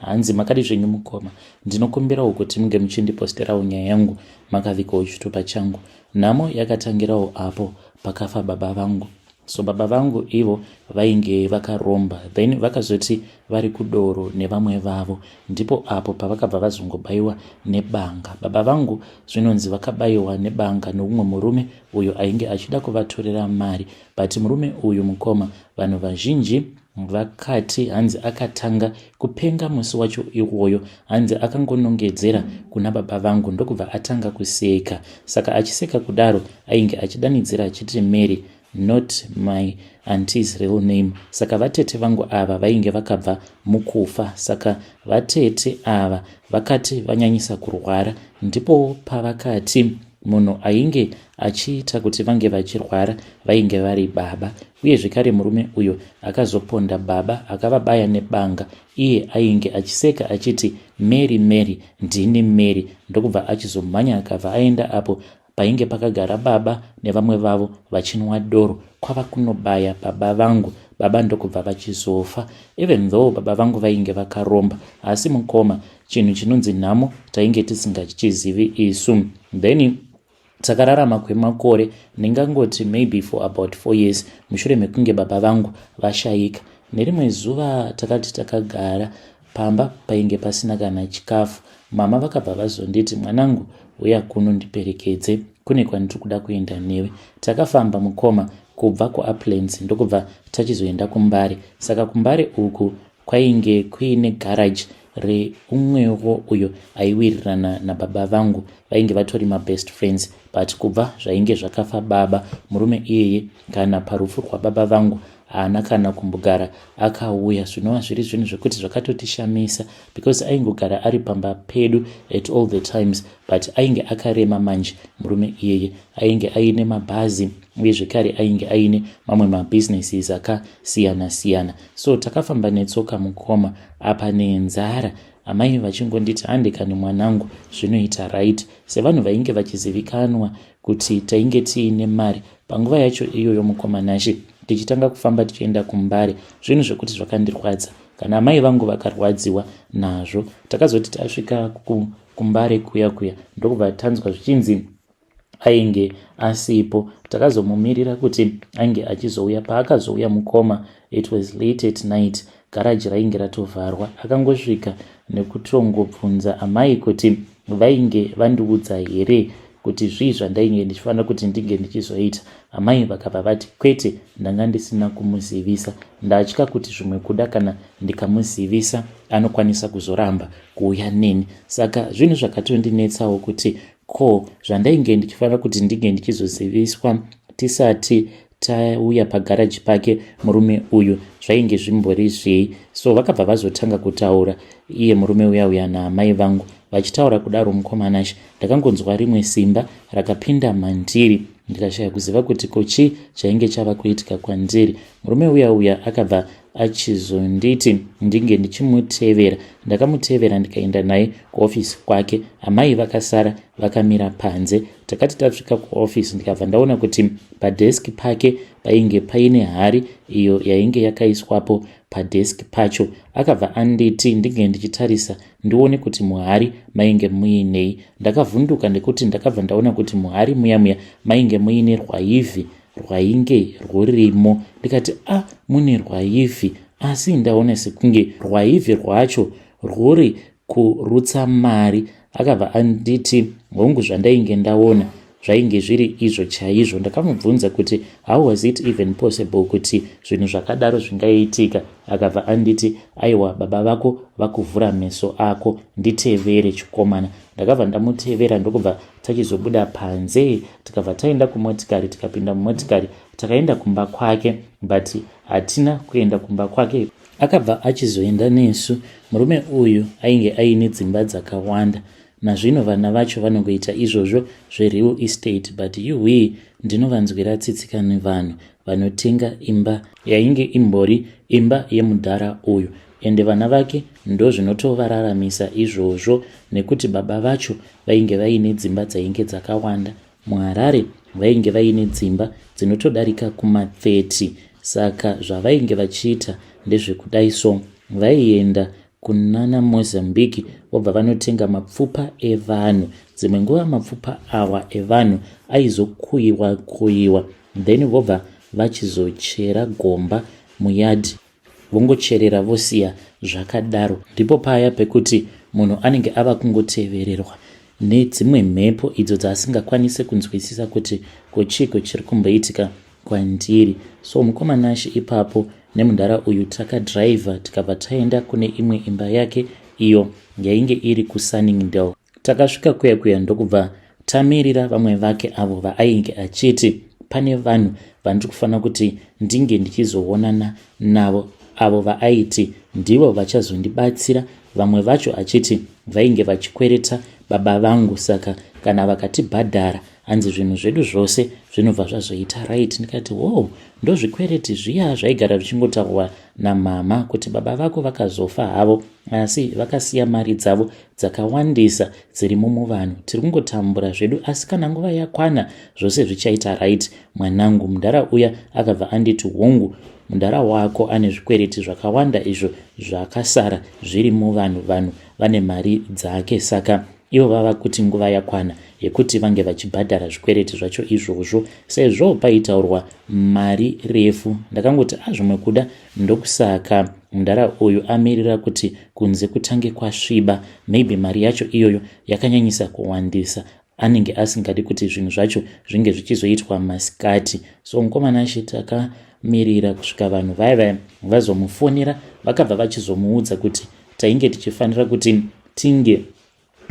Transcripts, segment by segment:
hanzi makadi zvenyu mukoma ndinokumbirawo kuti munge muchindiposterawo nyaya yangu makavikawo chitupa changu nhamo yakatangirawo apo pakafa baba vangu so baba vangu ivo vainge vakaromba then vakazoti vari kudoro nevamwe vavo ndipo apo pavakabva vazongobaiwa nebanga baba vangu zvinonzi vakabaiwa nebanga noumwe murume uyo ainge achida kuvatorera mari but murume uyu mukoma vanhu vazhinji Vakati hanzi akatanga kupenga musi wacho iwoyo, hanzi akangonongedzera kuna baba vangu ndokubva atanga kuseka. Saka achiseka kudaro ainge achidanidzira achiti Mary not my auntie's real name. Saka vatete vangu ava vainge vakabva mukufa. Saka vatete ava vakati vanyanyisa kurwara ndipo pavakati munhu ainge achiita kuti vange vachirwara vainge vari baba Uye zvekare murume uyo akazoponda baba akavabaya nebanga iye ainge achiseka achiti mary mary ndini mary ndokubva achizomhanya akabva aenda apo painge pakagara baba nevamwe vavo vachinwa doro kwava kunobaya baba vangu baba ndokubva vachizofa even though baba vangu vainge vakaromba asi mukoma chinhu chinonzi nhamo tainge tisingachizivi isu then takararama kwemakore ndingangoti maybe for about four years mushure mekunge baba vangu vashayika nerimwe zuva takati takagara pamba painge pasina kana chikafu mama vakabva vazonditi mwanangu uya kuno ndiperekedze kune kwandiri kuda kuenda newe takafamba mukoma kubva kuaplans ndokubva tachizoenda kumbare saka kumbare uku Kwainge kuine garage reumwewo uyo aiwirirana nababa vangu vainge vatori mabest friends but kubva zvainge zvakafa baba murume iyeye kana parufu rwababa vangu haana kana kumbogara akauya zvinova zviri zvinhu zvekuti zvakatotishamisa because aingogara ari pamba pedu at all the times but ainge akarema manje murume iyeye ainge aine mabhazi uye zvekare ainge aine mamwe mabusinesses akasiyana siyana so takafamba netsoka mukoma apa nenzara amai vachingonditi hande kani mwanangu zvinoita right sevanhu vainge vachizivikanwa kuti tainge tiine mari panguva yacho iyoyo mukoma nashe tichitanga kufamba tichienda kumbare zvinhu zvekuti zvakandirwadza kana amai vangu vakarwadziwa nazvo takazoti tasvika ku kumbare kuya kuya ndokubva tanzwa zvichinzi ainge asipo takazomumirira kuti ainge achizouya paakazouya mukoma it was late at night garaji rainge ratovharwa akangosvika nekutongobvunza amai kuti vainge vandiudza here kuti zvii zvandainge ndichifanira kuti ndinge ndichizoita amai vakabva vati kwete ndanga ndisina kumuzivisa ndatya kuti zvimwe kuda kana ndikamuzivisa anokwanisa kuzoramba kuuya neni saka zvinhu zvakatondinetsawo kuti ko zvandainge ndichifanira kuti ndinge ndichizoziviswa tisati tauya pagaraji pake murume uyu zvainge zvimbori zvei so vakabva vazotanga kutaura iye murume uya uya naamai vangu vachitaura kudaro mukomanashe ndakangonzwa rimwe simba rakapinda mandiri ndikashaya kuziva kuti kochii chainge chava kuitika kwandiri murume uya uya akabva achizonditi ndinge ndichimutevera ndakamutevera ndikaenda naye kuofisi kwake amai vakasara vakamira panze takati tasvika kuofisi ndikabva ndaona kuti padheski pake painge paine hari iyo yainge yakaiswapo padheski pacho akabva anditi ndinge ndichitarisa ndione kuti muhari mainge muinei ndakavhunduka nekuti ndakabva ndaona kuti muhari muya muya mainge muine rwaivhi rwainge rwurimo ndikati a ah, mune rwaivhi asi ndaona sekunge rwaivhi rwacho rwuri kurutsa mari akabva anditi hongu zvandainge ndaona zvainge zviri izvo chaizvo ndakamubvunza kuti how was it even possible kuti zvinhu zvakadaro zvingaiitika akabva anditi aiwa baba vako vakuvhura meso ako nditevere chikomana ndakabva ndamutevera ndokubva Tachizobuda panze tikabva taenda kumotikari tikapinda mumotikari takaenda kumba kwake but hatina kuenda kumba kwake akabva achizoenda nesu murume uyu ainge aine dzimba dzakawanda nazvino vana vacho vanongoita izvozvo zvereal estate but yuhwii ndinovanzwira tsitsika nevanhu vanotenga imba yainge imbori imba yemudhara uyu Ende vana vake ndozvinotovararamisa izvozvo nekuti baba vacho vainge vaine dzimba dzainge dzakawanda muharare vainge vaine dzimba dzinotodarika kuma 30 saka zvavainge vachiita ndezvekudai so vaienda kunana mozambique vobva vanotenga mapfupa evanhu dzimwe nguva mapfupa awa evanhu aizokuyiwa kuyiwa then vobva vachizochera gomba muyadhi vongocherera vosiya zvakadaro ndipo paya pekuti munhu anenge ava kungotevererwa nedzimwe mhepo idzo dzaasingakwanise kunzwisisa kuti kochiiko chiri kumboitika kwandiri so mukoma nashe ipapo nemudhara uyu takadhiraivha tikabva taenda kune imwe imba yake iyo yainge iri kusunningdale Takasvika kuya kuya ndokubva tamirira vamwe vake avo vaainge achiti pane vanhu vandiri kufanira kuti ndinge ndichizoonana navo avo vaaiti ndivo vachazondibatsira vamwe vacho achiti vainge vachikwereta baba vangu saka kana vakatibhadhara hanzi zvinhu zvedu zvose zvinobva zvazoita right ndikati wow ndozvikwereti zviya zvaigara zvichingotaurwa namama kuti baba vako vakazofa havo asi vakasiya mari dzavo dzakawandisa dzirimo muvanhu tiri kungotambura zvedu asi kana nguva yakwana zvose zvichaita right mwanangu mudhara uya akabva anditi hongu mudhara wako ane zvikwereti zvakawanda izvo zvakasara zviri muvanhu vanhu vane mari dzake saka ivo vava kuti nguva yakwana yekuti vange vachibhadhara zvikwereti zvacho izvozvo sezvo paitaurwa mari refu ndakangoti azvimwe kuda Ndokusaka mdara uyu amirira kuti kunze kutange kwasviba maybe mari yacho iyoyo yakanyanyisa kuwandisa anenge asingadi kuti zvinhu zvacho zvinge zvichizoitwa masikati so mukomana ashe takamirira kusvika vanhu vaya vaya vazomufonera vakabva vachizomuudza kuti tainge tichifanira kuti tinge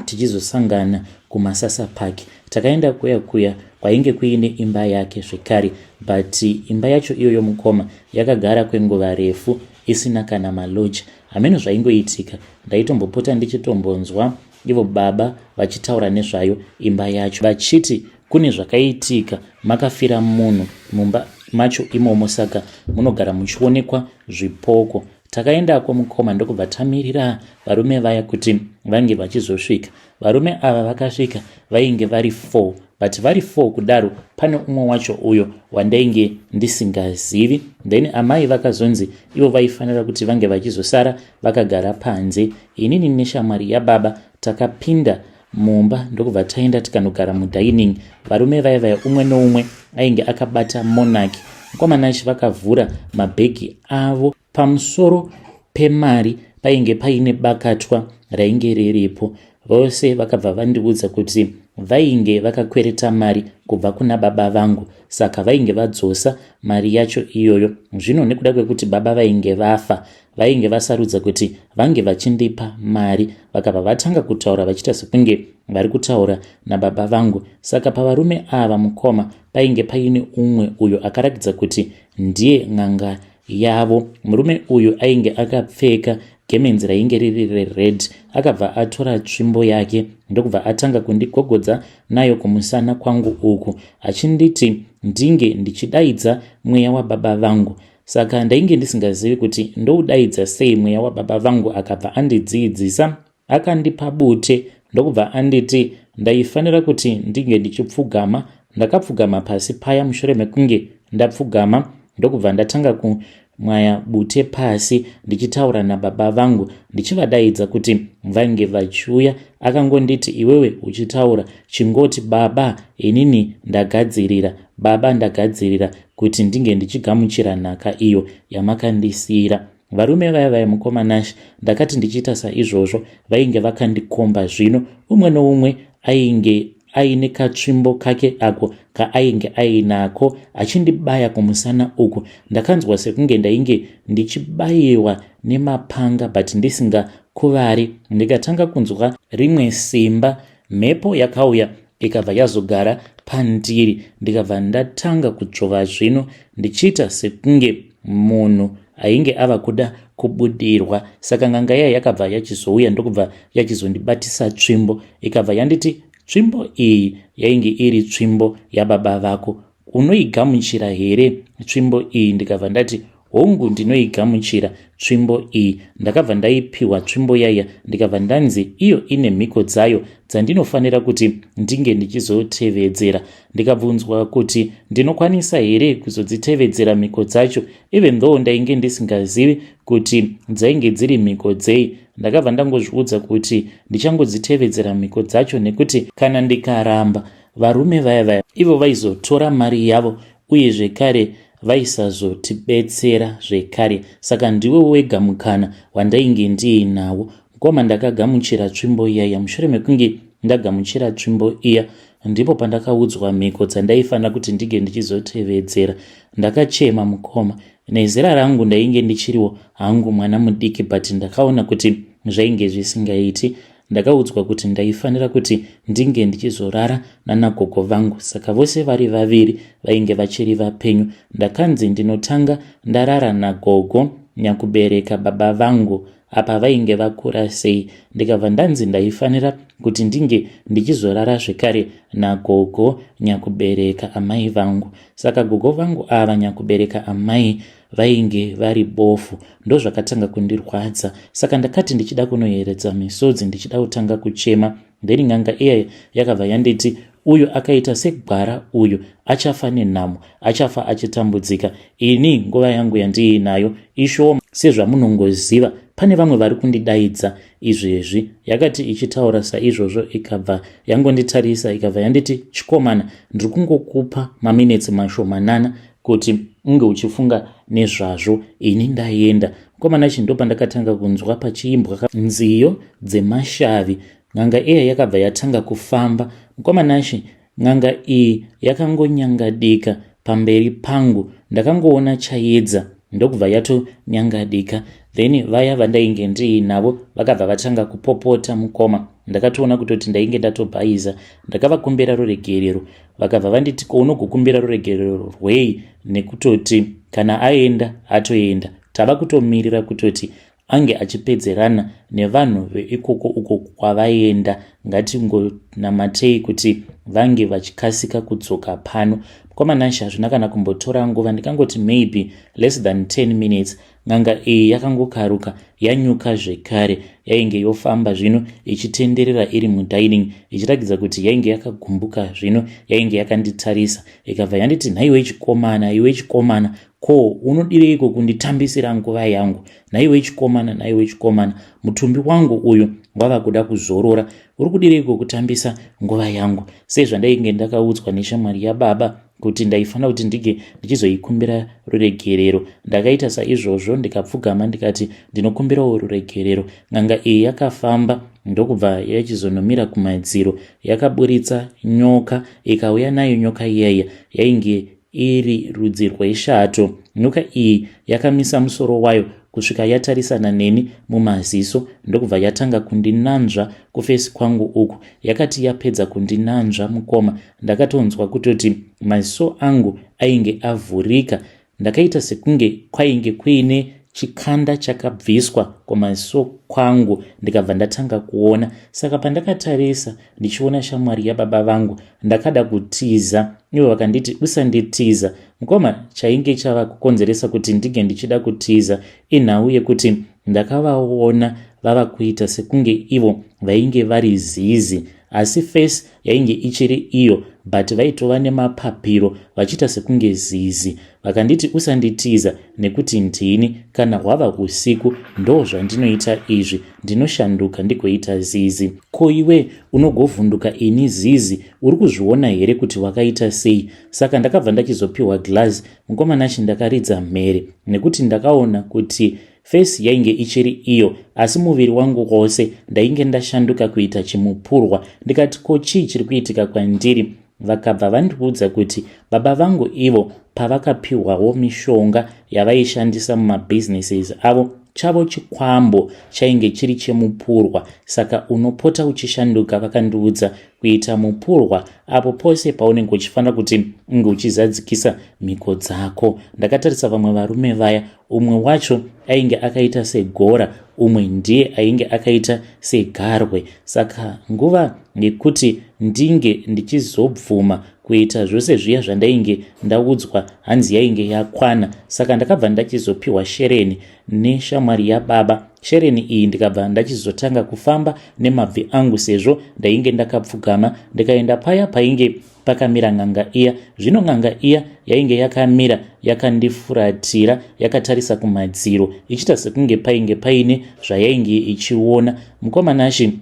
tichizosangana kumasasa park takaenda kuya kuya kwainge kuine imba yake zvekare but imba yacho iyoyo mukoma yakagara kwenguva refu isina kana maloji hameno zvaingoitika ndaitombopota ndichitombonzwa ivo baba vachitaura nezvayo imba yacho vachiti kune zvakaitika makafira munhu mumba macho imomo saka munogara muchionekwa zvipoko Takaendako mukoma ndokubva tamirira varume vaya kuti vange vachizosvika. Varume ava vakasvika vainge vari four but vari four kudaro pane umwe wacho uyo wandainge ndisingazivi then amai vakazonzi ivo vaifanira kuti vange vachizosara vakagara panze inini neshamwari yababa takapinda mumba ndokubva taenda tikanogara mudining varume vaya vaya umwe noumwe ainge akabata monarch mkomanachi vakavhura mabhegi avo pamusoro pemari painge paine bakatwa rainge riripo vose vakabva vandiudza kuti vainge vakakwereta mari kubva kuna baba vangu saka vainge vadzosa mari yacho iyoyo zvino nekuda kwekuti baba vainge vafa vainge vasarudza kuti vange vachindipa mari vakabva vatanga kutaura vachiita sekunge vari kutaura nababa vangu saka pavarume ava mukoma painge paine umwe uyo akarakidza kuti ndiye n'anga yavo murume uyu ainge akapfeka gemenzi rainge riri rered akabva atora tsvimbo yake ndokubva atanga kundigogodza nayo kumusana kwangu uku achinditi ndinge ndichidaidza mweya wababa vangu Saka ndainge ndisingazivi kuti ndoudaidza sei mweya wababa vangu akabva andidziidzisa akandipa bute ndokubva anditi ndaifanira kuti ndinge ndichipfugama ndakapfugama pasi paya mushure mekunge ndapfugama ndokubva ndatanga kumwaya bute pasi ndichitaura nababa vangu ndichivadaidza kuti vainge vachiuya akangonditi iwewe uchitaura chingoti baba inini ndagadzirira baba ndagadzirira kuti ndinge ndichigamuchira nhaka iyo yamakandisiyira varume vaya vaya mukoma nash ndakati ndichiita saizvozvo vainge vakandikomba zvino umwe noumwe ainge aine katsvimbo kake ako kaainge ainako achindibaya kumusana uku ndakanzwa sekunge ndainge ndichibayiwa nemapanga but ndisingakuvari ndikatanga kunzwa rimwe simba mhepo yakauya ikabva yazogara pandiri ndikabva ndatanga kuchova zvino ndichiita sekunge munhu ainge ava kuda kubudirwa saka nganga iya yakabva yachizouya ndokubva yachizondibatisa tsvimbo ikabva yanditi tsvimbo iyi yainge iri tsvimbo yababa vako unoigamuchira here tsvimbo iyi ndikabva ndati hongu ndinoigamuchira tsvimbo iyi ndakabva ndaipiwa tsvimbo yaiya ndikabva ndanzi iyo ine mhiko dzayo dzandinofanira kuti ndinge ndichizotevedzera ndikabvunzwa kuti ndinokwanisa here kuzodzitevedzera mhiko dzacho even though ndainge ndisingazivi kuti dzainge dziri mhiko dzei ndakabva ndangozviudza kuti ndichangodzitevedzera mhiko dzacho nekuti kana ndikaramba varume vaya vaya ivo vaizotora mari yavo uye zvekare vaisazotibetsera zvekare saka ndiwe wega mukana wandainge ndiinawo mukoma ndakagamuchira tsvimbo iyaya mushure mekunge ndagamuchira tsvimbo iya ndipo pandakaudzwa mhiko dzandaifanira kuti ndige ndichizotevedzera ndakachema mukoma nezera rangu ndainge ndichiriwo hangu mwana mudiki but ndakaona kuti zvainge zvisingaiti ndakaudzwa kuti ndaifanira kuti ndinge ndichizorara nanagogo vangu saka vose vari vaviri vainge vachiri vapenyu ndakanzi ndinotanga ndarara nagogo nyakubereka baba vangu apa vainge vakura sei ndikabva ndanzi ndaifanira kuti ndinge ndichizorara zvekare nagogo nyakubereka amai vangu saka gogo vangu ava nyakubereka amai vainge vari bofu ndozvakatanga kundirwadza saka ndakati ndichida kunoyeredza misodzi ndichida kutanga kuchema then n'anga iya yakabva yanditi uyu akaita segwara uyu achafa nenhamo achafa achitambudzika ini nguva yangu yandiinayo ishowo sezvamunongoziva pane vamwe vari kundidaidza izvezvi yakati ichitaura saizvozvo ikabva yangonditarisa ikabva yanditi chikomana ndiri kungokupa maminetsi mashomanana kuti unge uchifunga nezvazvo ini ndaenda mukomana chi ndopandakatanga kunzwa pachiimbwa nziyo dzemashavi n'anga eya yakabva yatanga kufamba mukomana chi N'anga iyi yakangonyangadika pamberi pangu ndakangoona chayedza ndokubva yatonyangadika then vaya vandainge ndiinavo vakabva vatanga kupopota mukoma ndakatoona kutoti ndainge ndatobhaiza ndakavakumbira ruregerero vakabva vanditi kounogokumbira ruregerero rwei nekutoti kana aenda atoenda tava kutomirira kutoti ange achipedzerana nevanhu veikoko uko kwavaienda ngatingonamatei kuti vange vachikasika kudzoka pano kwamanashe hazvina kana kumbotora nguva ndikangoti maybe less than 10 minutes n'anga iyi yakangokaruka yanyuka zvekare yainge yofamba zvino ichitenderera iri mudining ichiratidza kuti yainge yakagumbuka zvino yainge yakanditarisa ikabva yanditi nhaiwe chikomana iwe chikomana Ko unodireiko kunditambisira nguva yangu? Nhaiwe chikomana, nhaiwe chikomana, mutumbi wangu uyu wava kuda kuzorora. Uri kudireiko kutambisa nguva yangu? Sezvandainge ndakaudzwa neshamwari yababa kuti ndaifanira kuti ndinge ndichizoikumbira ruregerero. Ndakaita saizvozvo ndikapfugama ndikati ndinokumbirawo ruregerero. N'anga iyi yakafamba ndokubva yachizonomira kumadziro yakaburitsa nyoka ikauya nayo nyoka iyaiya yainge iri rudzi rweshato. Nyoka iyi yakamisa musoro wayo kusvika yatarisana neni mumaziso ndokubva yatanga kundinanzva kufesi kwangu uku. Yakati yapedza kundinanzva mukoma, ndakatonzwa kutoti maziso angu ainge avhurika. Ndakaita sekunge kwainge kuine chikanda chakabviswa kumaziso kwangu ndikabva ndatanga kuona. Saka pandakatarisa ndichiona shamwari yababa vangu ndakada kutiza ivo vakanditi usanditiza mukoma chainge chava kukonzeresa kuti ndinge ndichida kutiza inhau yekuti ndakavaona vava kuita sekunge ivo vainge vari zizi asi face yainge ichiri iyo but vaitova nemapapiro vachiita sekunge zizi vakanditi usanditiza nekuti ndini kana hwava usiku ndo zvandinoita izvi ndinoshanduka ndigoita zizi ko iwe unogovhunduka ini zizi uri kuzviona here kuti wakaita sei saka ndakabva ndachizopiwa glass mukoma nashi ndakaridza mhere nekuti ndakaona kuti fesi yainge ichiri iyo asi muviri wangu wose ndainge ndashanduka kuita chimupurwa ndikati ko chii chiri kuitika kwandiri Vakabva vandiudza kuti baba vangu ivo pavakapiwawo mishonga yavaishandisa mumabusinesses avo chavo chikwambo chainge chiri chemupurwa saka unopota uchishanduka vakandiudza kuita mupurwa apo pose paunenge uchifanira kuti unge uchizadzikisa mhiko dzako ndakatarisa vamwe varume vaya umwe wacho ainge akaita segora umwe ndiye ainge akaita segarwe saka nguva yekuti ndinge ndichizobvuma kuita zvose zviya zvandainge ndaudzwa hanzi yainge yakwana saka ndakabva ndachizopiwa shereni neshamwari yababa shereni iyi ndikabva ndachizotanga kufamba nemabvi angu sezvo ndainge ndakapfugama ndikaenda paya painge pakamira n'anga iya zvino n'anga iya yainge yakamira yakandifuratira yakatarisa kumadziro ichiita sekunge painge paine zvayainge ichiona mukomanashi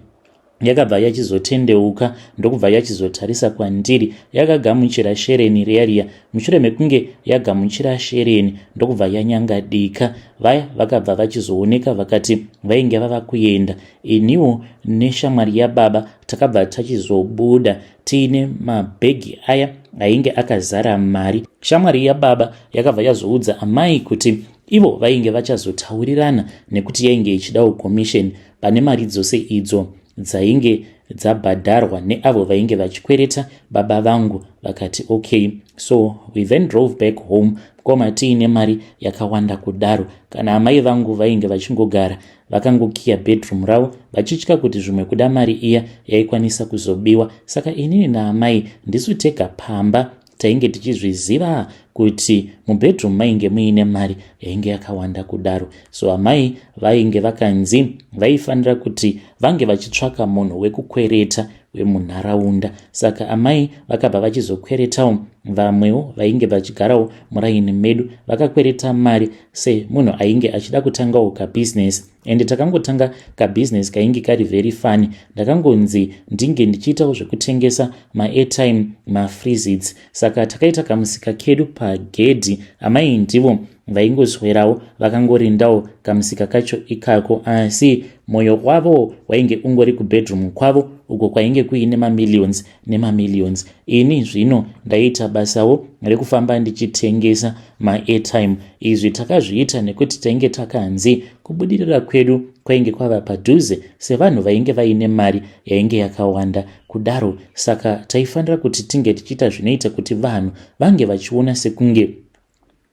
yakabva yachizotendeuka ndokubva yachizotarisa kwandiri yakagamuchira shereni riariya mushure mekunge yagamuchira shereni ndokubva yanyangadika vaya vakabva vachizooneka vakati vainge vava kuenda iniwo neshamwari yababa takabva tachizobuda tiine mabhegi aya ainge akazara mari shamwari yababa yakabva yazoudza amai kuti ivo vainge vachazotaurirana nekuti yainge ichidawo commission pane mari dzose idzo dzainge dzabhadharwa neavo vainge vachikwereta baba vangu vakati okay so we then drove back home mukoma tiine mari yakawanda kudaro kana amai vangu vainge vachingogara Vakangokiya bedroom ravo vachitya kuti zvimwe kuda mari iya yaikwanisa kuzobiwa saka inini naamai ndisu tega pamba tainge tichizviziva kuti mubedroom mainge muine mari yainge yakawanda kudaro so amai vainge vakanzi vaifanira kuti vange vachitsvaka munhu wekukwereta wemunharaunda saka amai vakabva vachizokweretawo vamwewo vainge vachigarawo muraini medu vakakwereta mari semunhu ainge achida kutangawo kabusiness ende takangotanga kabusiness kainge kari very fun ndakangonzi ndinge ndichiitawo zvekutengesa maairtime mafreezits saka takaita kamusika kedu pagedhi amai ndivo vaingoswerawo vakangorindawo kamusika kacho ikako asi mwoyo wavo wainge ungori kubedroom kwavo uko kwainge kuine mamillions nemamillions ini zvino ndaiita basawo rekufamba ndichitengesa maairtime izvi takazviita nekuti tainge takanzi kubudirira kwedu kwainge kwava padhuze sevanhu vainge vaine mari yainge yakawanda kudaro saka taifanira kuti tinge tichiita zvinoita kuti vanhu vange vachiona sekunge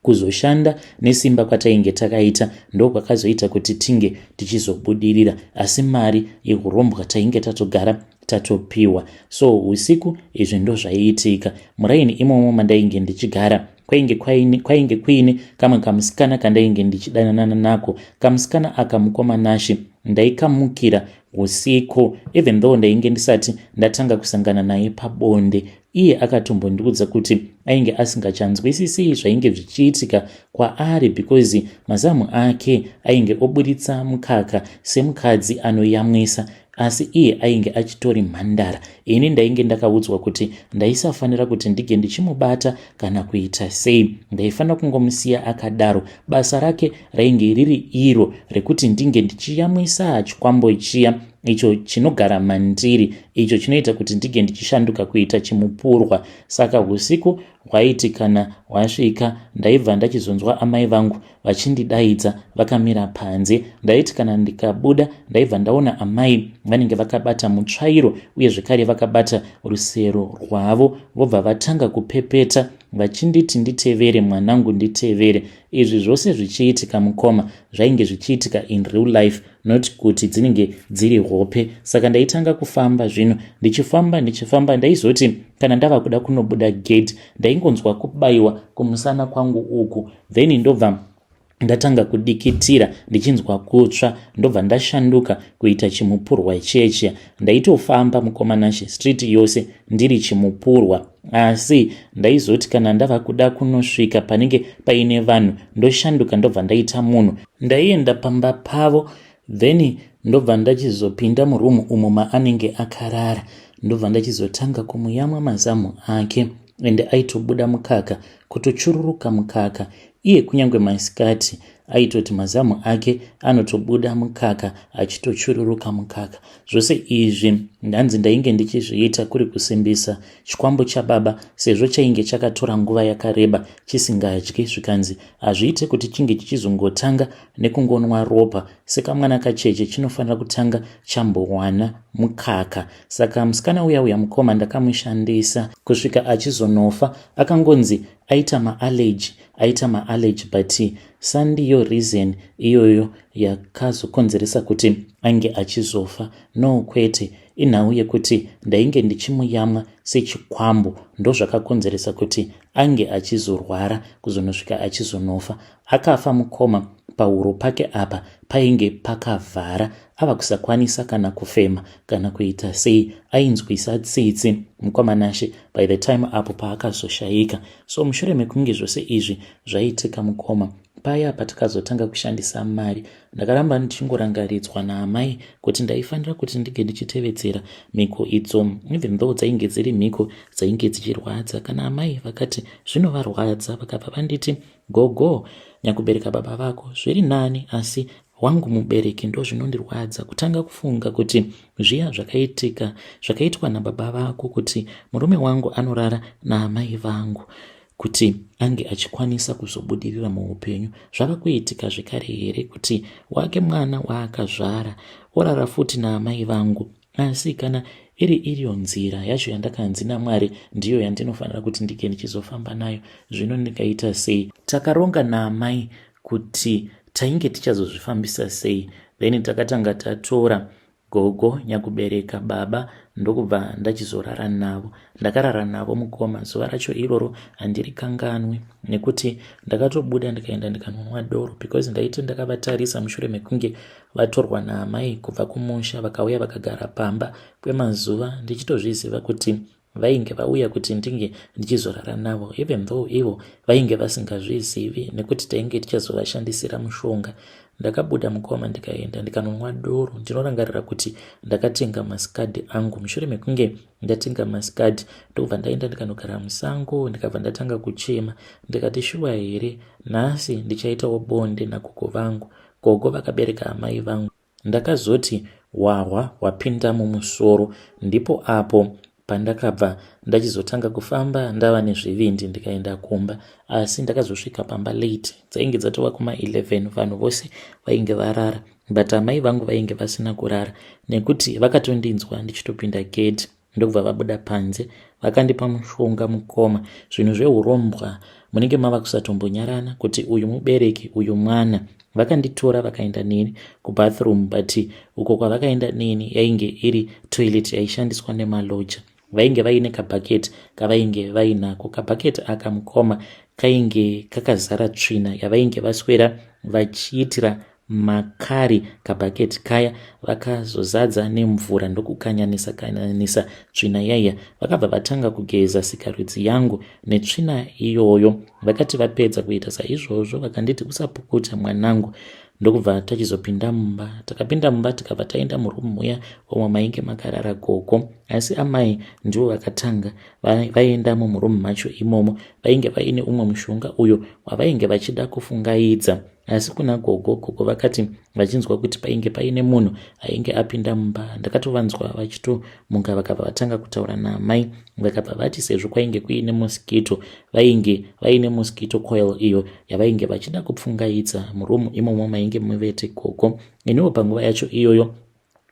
Kuzoshanda nesimba kwatainge takaita ndokwakazoita kuti tinge tichizobudirira, asi mari yehurombwa tainge tatogara tatopiwa. So usiku izvi ndozvaiitika muraini imomo mandainge ndichigara kwainge kwaine kwainge kuine kamwe kamusikana kandainge ndichidananana nako kamusikana aka mukoma nashe ndaikamukira usiku even though ndainge ndisati ndatanga kusangana naye pabonde Iye akatombondiudza kuti ainge asingachanzwisisi zvainge zvichiitika kwaari because mazamu ake ainge oburitsa mukaka semukadzi anoyamwisa asi iye ainge achitori mhandara. Ini ndainge ndakaudzwa kuti ndaisafanira kuti ndige ndichimubata kana kuita sei. Ndaifanira kungomusiya akadaro. Basa rake rainge riri iro rekuti ndinge ndichiyamwisa chikwambo chiya icho chinogara mandiri icho chinoita kuti ndige ndichishanduka kuita chimupurwa saka usiku hwaiti kana hwasvika ndaibva ndachizonzwa amai vangu vachindidaidza vakamira panze ndaiti kana ndikabuda ndaibva ndaona amai vanenge vakabata mutsvairo uye zvekare vakabata rusero rwavo vobva vatanga kupepeta vachinditi nditevere mwanangu nditevere izvi zvose zvichiitika mukoma zvainge zvichiitika in real life not kuti dzinenge dziri hope saka ndaitanga kufamba zvino ndichifamba ndichifamba ndaizoti kana ndava kuda kunobuda gate ndaingonzwa kubayiwa kumusana kwangu uku then ndobva ndatanga kudikitira ndichinzwa kutsva ndobva ndashanduka kuita chimupurwa cheche ndaitofamba mukomanashe street yose ndiri chimupurwa asi ndaizoti kana ndava kuda kunosvika panenge paine vanhu ndoshanduka ndobva ndaita munhu Ndaienda pamba pavo then ndobva ndachizopinda muroom umo maanenge akarara ndobva ndachizotanga kumuyamwa mazamu ake ende aitobuda mukaka kutochururuka mukaka iye kunyange masikati aitoti mazamu ake anotobuda mukaka achitochururuka mukaka zvose izvi ndanzi ndainge ndichizviita kuri kusimbisa chikwambo chababa sezvo chainge chakatora nguva yakareba chisingadyi zvikanzi hazviite kuti chinge chichizongotanga nekungonwa ropa sekamwana kacheche chinofanira kutanga chambowana mukaka saka musikana uya uya mukoma ndakamushandisa kusvika achizonofa akangonzi aita maallegy aita maallegy but sandiyo reason iyoyo yakazokonzeresa kuti ange achizofa no kwete Inhau yekuti ndainge ndichimuyamwa sechikwambo ndozvakakonzeresa kuti ange achizorwara kuzonosvika achizonofa. Akafa mukoma pahuro pake apa painge pakavhara ava kusakwanisa kana kufema kana kuita sei ainzwisa tsitsi mukoma nashe by the time apo paakazoshaika so mushure mekunge zvose izvi zvaitika mukoma paya patakazotanga kushandisa mari Ndakaramba ndichingorangaridzwa naamai kuti ndaifanira kuti ndige ndichitevedzera mhiko idzo even though dzainge dziri mhiko dzainge dzichirwadza kana amai vakati zvinovarwadza vakabva vanditi gogo nyakubereka baba vako zviri nani asi wangu mubereki ndo zvinondirwadza kutanga kufunga kuti zviya zvakaitika zvakaitwa nababa vako kuti murume wangu anorara naamai vangu kuti ange achikwanisa kuzobudirira muupenyu zvava kuitika zvekare here kuti wake mwana waakazvara orara futi naamai vangu asi kana iri iriyo nzira yacho yandakanzi namwari ndiyo yandinofanira kuti ndike ndichizofamba nayo zvino ndikaita sei takaronga naamai kuti tainge tichazozvifambisa sei then takatanga tatora Gogo nyakubereka baba ndokubva ndachizorara navo. Ndakarara navo mukoma zuva racho iroro handirikanganwe nekuti ndakatobuda ndikaenda ndikanonwa doro because ndaiti ndakavatarisa mushure mekunge vatorwa naamai kubva kumusha vakauya vakagara pamba kwemazuva ndichitozviziva kuti vainge vauya kuti ndinge ndichizorara navo even though ivo vainge vasingazvizivi nekuti tainge tichazovashandisira mushonga ndakabuda mukoma ndikaenda ndikanonwa doro ndinorangarira kuti ndakatenga masikadhi angu mushure mekunge ndatenga masikadhi ndokubva ndaenda ndikanogara musango ndikabva ndatanga kuchema ndikati shuwa here nhasi ndichaitawo bonde nagogo vangu gogo vakabereka amai vangu Ndakazoti wahwa hwapinda mumusoro ndipo apo pandakabva ndachizotanga kufamba ndava nezvivindi ndikaenda kumba asi ndakazosvika pamba late dzainge dzatova kuma 11 vanhu vose vainge varara but amai vangu vainge vasina kurara nekuti vakatondinzwa ndichitopinda gate ndokubva vabuda panze vakandipa mushonga mukoma zvinhu zveurombwa munenge mava kusatombonyarana kuti uyu mubereki uyu mwana vakanditora vakaenda neni kubathroom but uko kwavakaenda neni yainge iri toilet yaishandiswa nemaloja vainge vaine kabhaketi kavainge vainako kabhaketi aka mukoma kainge kakazara tsvina yavainge vaswera vachiitira makari kabhaketi kaya vakazozadza nemvura ndokukanyanisa kanyanisa tsvina yaiya vakabva vatanga kugeza sikarudzi yangu netsvina iyoyo vakati vapedza kuita saizvozvo vakanditi usapukuta mwanangu ndokubva tachizopinda mumba takapinda mumba tikabva taenda murumu muya omwe mainge makarara gogo asi amai ndivo vakatanga vaendamo murumu macho imomo vainge vaine umwe mushonga uyo wavainge vachida kufungaidza wa asi kuna gogo gogo vakati vachinzwa kuti painge paine munhu ainge apinda mumba ndakatovanzwa vachitomuka vakabva vatanga kutaura naamai vakabva vati sezvo kwainge kuine moskito vainge vaine moskito coil iyo yavainge vachida kupfungaidza murumu imomo mainge muvete gogo iniwo panguva yacho iyoyo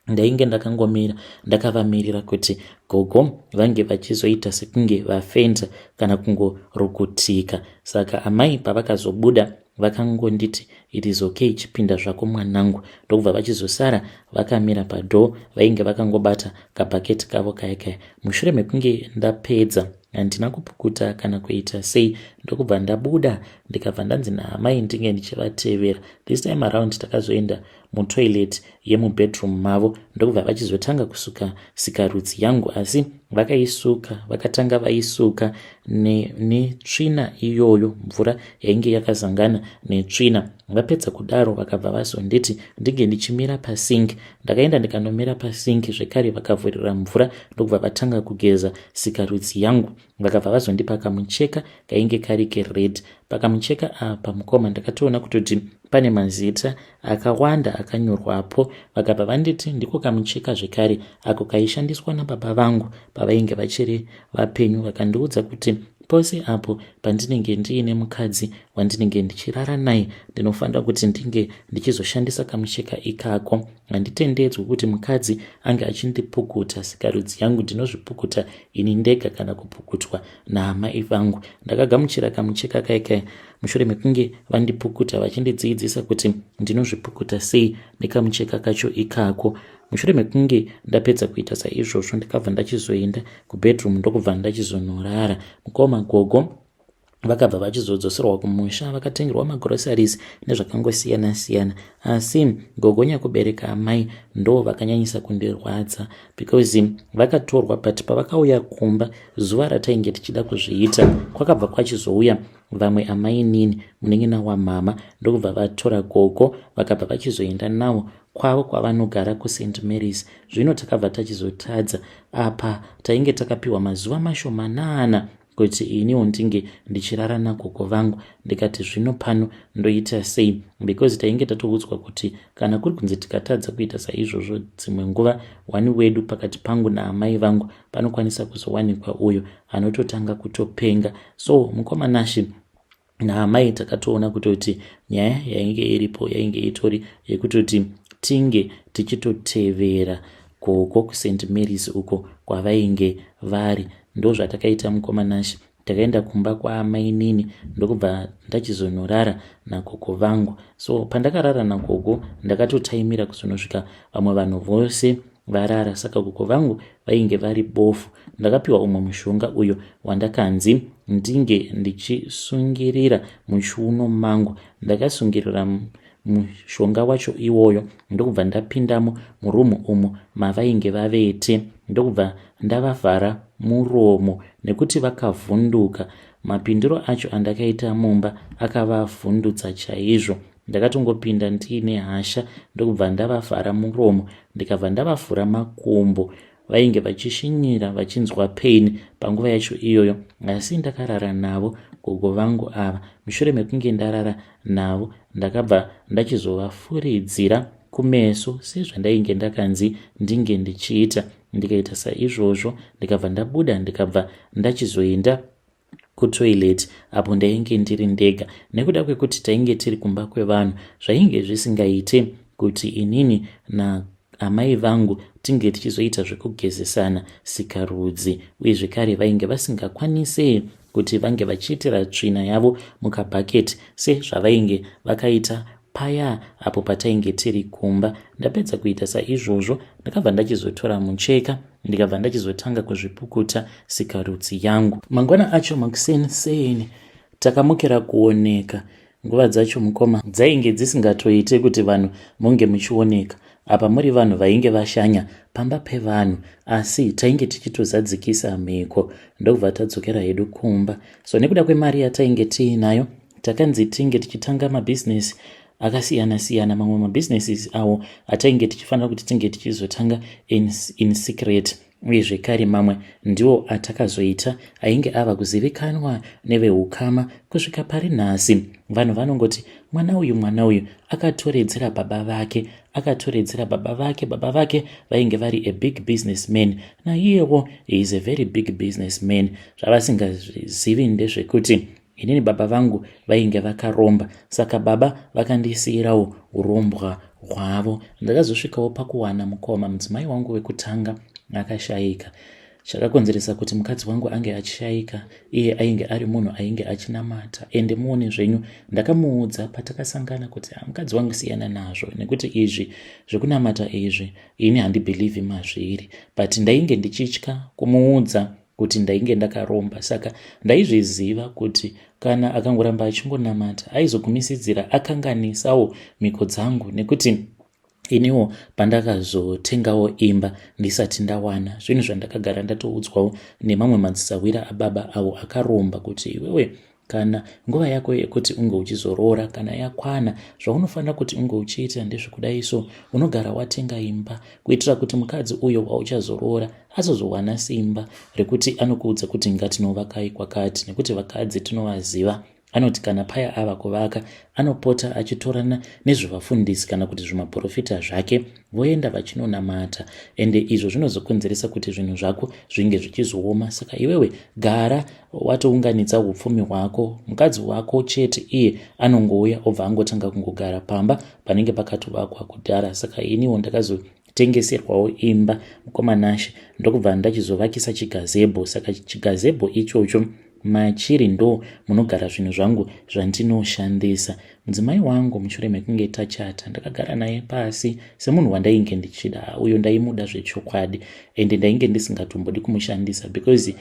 ndainge ndakangomira ndakavamirira kuti gogo vange vachizoita sekunge vafenza kana kungorukutika saka amai pavakazobuda vakangonditi it is okay chipinda zvako mwanangu ndokubva vachizosara vakamira padoor vainge vakangobata kabhaketi kavo kaya kaya mushure mekunge ndapedza handina kupukuta kana kuita sei ndokubva ndabuda ndikabva ndanzi naamai ndinge ndichivatevera this time around takazoenda mutoilet yemubedroom mavo ndokubva vachizotanga kusuka sikarudzi yangu asi vakaisuka vakatanga vaisuka netsvina ne iyoyo mvura yainge yakazangana netsvina vapedza kudaro vakabva vazonditi ndinge ndichimira pasink ndakaenda ndikanomira pasink zvekare vakavhurira mvura ndokubva vatanga kugeza sikarudzi yangu vakabva vazondipa kamucheka kainge kari kered pakamucheka apa mukoma ndakatoona kutoti pane mazita akawanda akanyorwapo vakabva vanditi ndiko kamucheka zvekare ako kaishandiswa nababa vangu pavainge vachiri vapenyu vakandiudza kuti pose apo pandinenge ndiine mukadzi wandinenge ndichirara naye ndinofanira kuti ndinge ndichizoshandisa kamucheka ikako handitendedzwi kuti mukadzi ange achindipukuta sikarudzi yangu ndinozvipukuta ini ndega kana kupukutwa naamai vangu ndakagamuchira kamucheka kai kai mushure mekunge vandipukuta vachindidziidzisa kuti ndinozvipukuta sei nekamucheka kacho ikako mushure mekunge ndapedza kuita saizvozvo ndikabva ndachizoenda kubedroom ndokubva ndachizonorara mukoma gogo vakabva vachizodzoserwa kumusha vakatengerwa magroceries nezvakangosiyana siyana asi gogo nyakubereka amai ndo vakanyanyisa kundirwadza because vakatorwa but pavakauya kumba zuva ratainge tichida kuzviita kwakabva kwachizouya vamwe amai nini munin'ina wamhama ndokubva vatora gogo vakabva vachizoenda nawo kwavo kwavanogara kusaint marys zvino takabva tachizotadza apa tainge takapiwa mazuva mashomanana kuti iniwo ndinge ndichirara nagogo vangu ndikati zvino pano ndoita sei because tainge tatoudzwa kuti kana kuri kunzi tikatadza kuita saizvozvo dzimwe nguva wani wedu pakati pangu naamai vangu panokwanisa kuzowanikwa uyo anototanga kutopenga so mukomanashi naamai takatoona kutoti nyaya yainge iripo yainge itori yekutoti tinge tichitotevera koko kusaint marys uko kwavainge vari ndozvatakaita mukoma nashe takaenda kumba kwaamainini ndokubva ndachizonorara nagogo vangu so pandakarara nagogo ndakatotaimira kuzonosvika vamwe vanhu vose varara saka gogo vangu vainge vari bofu ndakapiwa umwe mushonga uyo wandakanzi ndinge ndichisungirira muchiuno mangu ndakasungirira mushonga wacho iwoyo ndokubva ndapindamo murumu umo mavainge vavete ndokubva ndavavhara muromo nekuti vakavhunduka mapindiro acho andakaita mumba akavavhundutsa chaizvo Ndakatongopinda ndiine hasha ndokubva ndavavhara muromo ndikabva ndavavhura makumbo. Vainge vachishinyira vachinzwa pain panguva yacho iyoyo asi ndakarara navo gogo vangu ava. Mushure mekunge ndarara navo ndakabva ndachizovafuridzira kumeso sezvandainge ndakanzi ndinge ndichiita ndikaita saizvozvo ndikabva ndabuda ndikabva ndachizoenda kutoilet apo ndainge ndiri ndega nekuda kwekuti tainge tiri kumba kwevanhu zvainge zvisingaite kuti inini na amai vangu tinge tichizoita zvekugezesana sikarudzi uye zvekare vainge vasingakwanise kuti vange vachiitira tsvina yavo mukabhaketi sezvavainge vakaita Paya apo patainge tiri kumba, ndapedza kuita saizvozvo ndakabva ndachizotora mucheka ndikabva ndachizotanga kuzvipukuta sikarudzi yangu. Mangwana acho makuseni seni takamukira kuoneka nguva dzacho mukoma dzainge dzisingatoite kuti vanhu munge muchioneka apa muri vanhu vainge vashanya pamba pevanhu asi tainge tichitozadzikisa mhiko ndokubva tadzokera hedu kumba so nekuda kwemari yatainge tiinayo Takanzi tinge tichitanga mabusiness akasiyana siyana mamwe mabusinesses awo atainge tichifanira kuti tinge tichizotanga in, in secret uye zvekare mamwe ndiwo atakazoita ainge ava kuzivikanwa neveukama kusvika pari nhasi vanhu vanongoti mwana uyu mwana uyu akatoredzera baba vake akatoredzera baba vake baba vake vainge vari a big business man naiyewo is a very big business man zvavasingazivi ndezvekuti inini baba vangu vainge vakaromba saka baba vakandisiirawo urombwa hwavo ndakazosvikawo pakuwana mukoma mudzimai wangu wekutanga akashaika chakakonzeresa kuti mukadzi wangu ange achishaika iye ainge ari munhu ainge achinamata ende muone zvenyu ndakamuudza patakasangana kuti ah, mukadzi wangu siyana nazvo nekuti izvi zvekunamata izvi ini handibhilivhi mazviri but ndainge ndichitya kumuudza kuti ndainge ndakaromba saka ndaizviziva kuti kana akangoramba achingonamata aizogumisidzira akanganisawo mhiko dzangu nekuti iniwo pandakazotengawo imba ndisati ndawana zvinhu zvandakagara ndatoudzwawo nemamwe madzisahwira ababa avo akaromba kuti iwewe Kana nguva yako yekuti unge uchizoroora kana yakwana, zvaunofanira kuti unge uchiita ndezvekudai so, unogara watenga imba kuitira kuti mukadzi uyo wauchazoroora azozowana simba rekuti anokuudza kuti ngatinovakai kwakati nekuti vakadzi tinovaziva anoti kana paya ava kuvaka anopota achitorana nezvevafundisi kana kuti zvimaprofita zvake voenda vachinonamata ende izvo zvinozokonzeresa kuti zvinhu zvako zvinge zvichizooma saka iwewe gara watounganidza upfumi hwako mukadzi wako chete iye anongouya obva angotanga kungogara pamba panenge pakatovakwa kudhara saka iniwo ndakazotengeserwawo imba mukomanashe ndokubva ndachizovakisa chigazebho saka chigazebho ichocho machiri ndo munogara zvinhu zvangu zvandinoshandisa mudzimai wangu mushure mekunge tachata ndakagara naye pasi semunhu wandainge ndichida uyo ndaimuda zvechokwadi ende ndainge ndisingatombodi kumushandisa because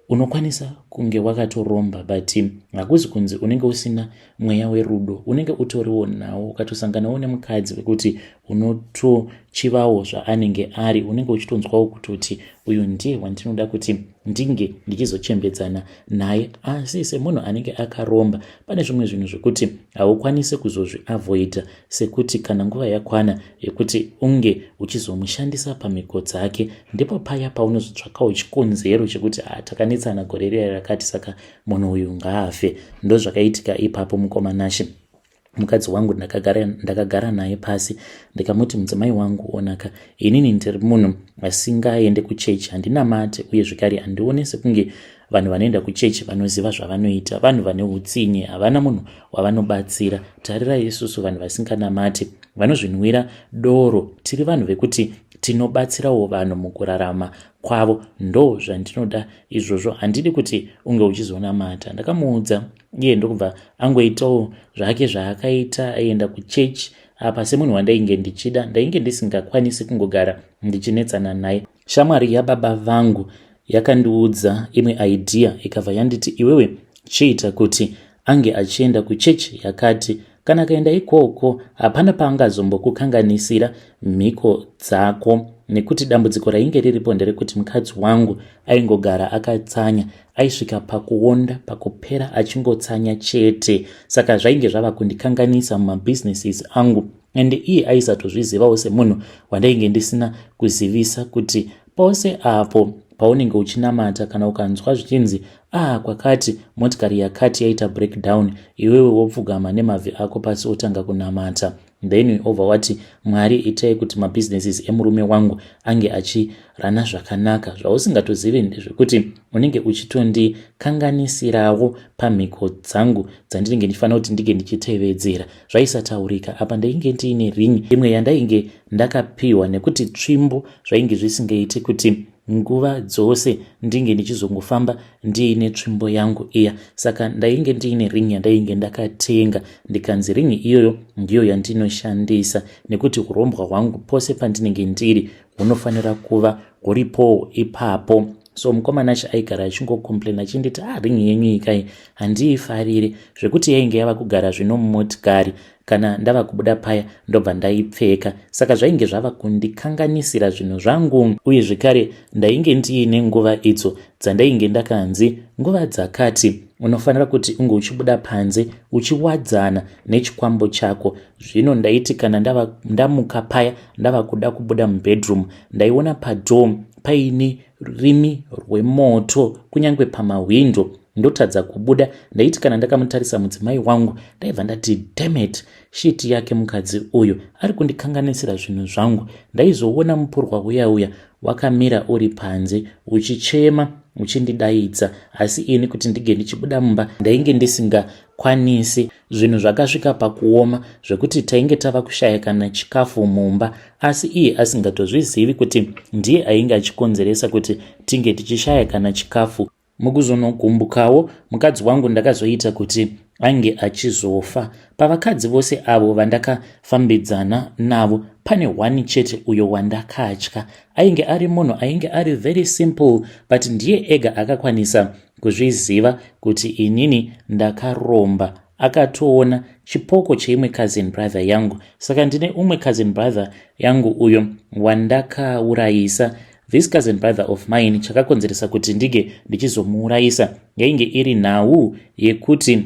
unokwanisa kunge wakatoromba but hakuzi kunzi unenge usina mweya werudo unenge utoriwo nawo ukatosanganawo nemukadzi wekuti unotochivawo zvaanenge ari unenge uchitonzwawo kutoti uyu ndiye wandinoda kuti ndinge ndichizochembedzana naye asi semunhu anenge akaromba pane zvimwe zvinhu zvekuti haukwanise kuzozviavoida sekuti kana nguva yakwana yekuti unge uchizomushandisa pamhiko dzake ndipo paya paunozotsvakawo chikonzero chekuti ah, takanetsana gore riya rakati saka munhu uyu ngaafe ndozvakaitika ipapo mukoma nashe mukadzi wangu ndakagara, ndakagara naye pasi ndikamuti mudzimai wangu onaka inini ndiri munhu asingaende kuchechi handinamate uye zvekare handione sekunge vanhu vanoenda kuchechi vanoziva zvavanoita vanhu vane utsinye havana munhu wavanobatsira tarirai isusu vanhu vasinganamati vanozvinwira doro tiri vanhu vekuti tinobatsirawo vanhu mukurarama kwavo ndo zvandinoda izvozvo handidi kuti unge uchizonamata ndakamuudza iye ndokubva angoitawo zvake zvaakaita aienda kuchechi apa semunhu wandainge ndichida ndainge ndisingakwanisi kungogara ndichinetsana naye shamwari yababa vangu yakandiudza imwe idea ikabva yanditi iwewe chiita kuti ange achienda kuchechi yakati kana akaenda ikoko hapana paangazombokukanganisira mhiko dzako nekuti dambudziko rainge riripo nderekuti mukadzi wangu aingogara akatsanya aisvika pakuonda pakupera achingotsanya chete saka zvainge zvava kundikanganisa mumabhizinesis angu and iye aisatozvizivawo semunhu wandainge ndisina kuzivisa kuti pose apo paunenge uchinamata kana ukanzwa zvichinzi ah kwakati motikari yakati yaita breakdown iwewe wopfugama nemavhi ako pasi otanga kunamata then ova wati mwari itai kuti mabusinesses emurume wangu ange achirana zvakanaka zvausingatozivi ndezvekuti unenge uchitondikanganisirawo pamhiko dzangu dzandinenge ndichifanira kuti ndinge ndichitevedzera zvaisataurika apa ndainge ndiine ring imwe yandainge ndakapiwa nekuti tsvimbo zvainge zvisingaiti kuti nguva dzose ndinge ndichizongofamba ndiine tsvimbo yangu iya saka ndainge ndiine ring yandainge ndakatenga ndikanzi ring iyoyo ndiyo yandinoshandisa nekuti urombwa hwangu pose pandinenge ndiri hunofanira kuva huripowo ipapo so mukomana acho aigara achingocomplain achinditi ah ring yenyu ikai handiifarire zvekuti yainge yava kugara zvino mumotikari kana ndava kubuda paya ndobva ndaipfeka saka zvainge zvava kundikanganisira zvinhu zvangu uye zvekare ndainge ndiine nguva idzo dzandainge ndakanzi nguva dzakati unofanira kuti unge uchibuda panze uchiwadzana nechikwambo chako zvino ndaiti kana ndamuka paya ndava kuda kubuda mubedroom ndaiona padom paine rurimi rwemoto kunyange pamahwindo ndotadza kubuda ndaiti kana ndakamutarisa mudzimai wangu ndaibva ndati demet shiti yake mukadzi uyu ari kundikanganisira zvinhu zvangu ndaizoona mupurwa uya uya wakamira uri panze uchichema uchindidaidza asi ini kuti ndinge ndichibuda mumba ndainge ndisingakwanisi Zvinhu zvakasvika pakuoma zvekuti tainge tava kushaya kana chikafu mumba asi iye asingatozvizivi kuti ndiye ainge achikonzeresa kuti tinge tichishaya kana chikafu. Mukuzonogumbukawo mukadzi wangu ndakazoita kuti ange achizofa. Pavakadzi vose avo vandakafambidzana navo pane one chete uyo wandakatya. Ainge ari munhu ainge ari very simple but ndiye ega akakwanisa kuzviziva kuti inini ndakaromba akatoona chipoko cheimwe cousin brother yangu saka ndine umwe cousin brother yangu uyo wandakaurayisa this cousin brother of mine chakakonzeresa kuti ndinge ndichizomuurayisa yainge iri nhau yekuti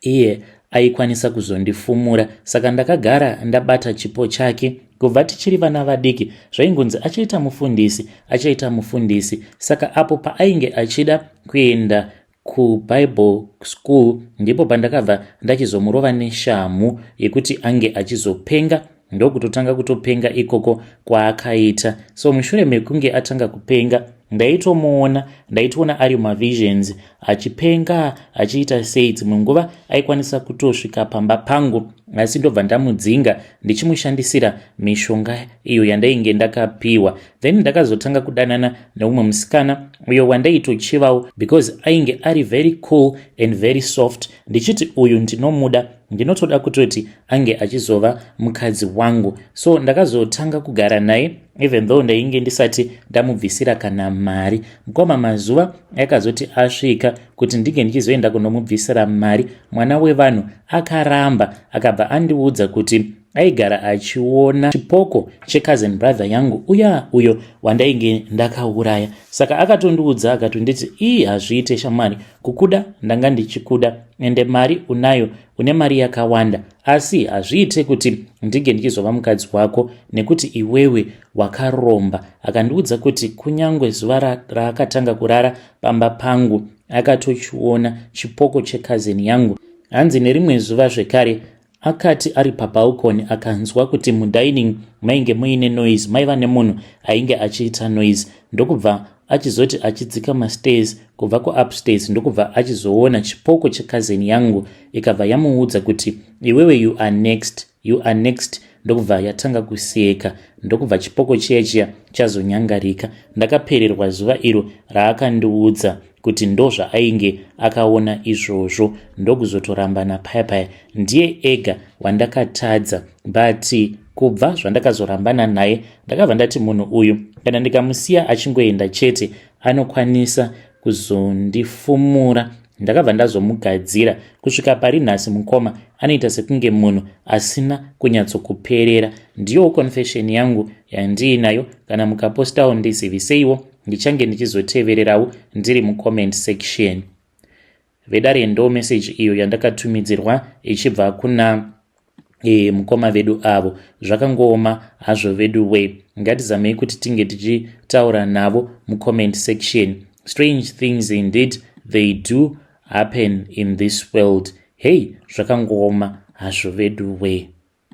iye aikwanisa kuzondifumura saka ndakagara ndabata chipo chake kubva tichiri vana vadiki zvaingonzi achaita mufundisi achaita mufundisi saka apo paainge achida kuenda kubible school ndipo pandakabva ndachizomurova neshamhu yekuti ange achizopenga ndokutotanga kutopenga ikoko kwaakaita so mushure mekunge atanga kupenga ndaitomuona ndaitoona ari mavisions achipenga achiita sei dzimwe nguva aikwanisa kutosvika pamba pangu asi ndobva ndamudzinga ndichimushandisira mishonga iyo yandainge ndakapiwa then ndakazotanga kudanana neumwe musikana uyo wandaitochivawo because ainge ari very cool and very soft ndichiti uyu ndinomuda ndinotoda kutoti ange achizova mukadzi wangu so ndakazotanga kugara naye even though ndainge ndisati ndamubvisira kana mari mukoma mazuva akazoti asvika kuti ndinge ndichizoenda kunomubvisira mari mwana wevanhu akaramba akabva andiudza kuti aigara achiona chipoko checousin brother yangu uya uyo wandainge ndakauraya saka akatondiudza akatonditi ii hazviite shamwari kukuda ndanga ndichikuda ende mari unayo une mari yakawanda asi hazviite kuti ndige ndichizova mukadzi wako nekuti iwewe wakaromba akandiudza kuti kunyange zuva raakatanga kurara pamba pangu akatochiona chipoko checousin yangu hanzi nerimwe zuva zvekare Akati ari pabalcony akanzwa kuti mudining mainge muine noise maiva nemunhu ainge achiita noise ndokubva achizoti achidzika mastairs kubva kuupstairs ndokubva achizoona chipoko chekazeni yangu ikabva yamuudza kuti iwewe you are next you are next ndokubva yatanga kuseka ndokubva chipoko chiya chiya chazonyangarika ndakapererwa zuva iro raakandiudza kuti ndozvaainge akaona izvozvo ndokuzotorambana paya paya ndiye ega wandakatadza but kubva zvandakazorambana naye ndakabva ndati munhu uyu kana ndikamusiya achingoenda chete anokwanisa kuzondifumura ndakabva ndazomugadzira kusvika pari nhasi mukoma anoita sekunge munhu asina kunyatsokuperera ndiyowo confession yangu yandiinayo kana mukapostawo ndizivise iwo ndichange ndichizotevererawo ndiri mucomment section vedare ndo message iyo yandakatumidzirwa ichibva kuna e, mukoma vedu avo zvakangooma hazvo vedu way ngatizamei kuti tinge tichitaura navo mucomment section strange things indeed they do happen in this world hei zvakangooma hazvo vedu way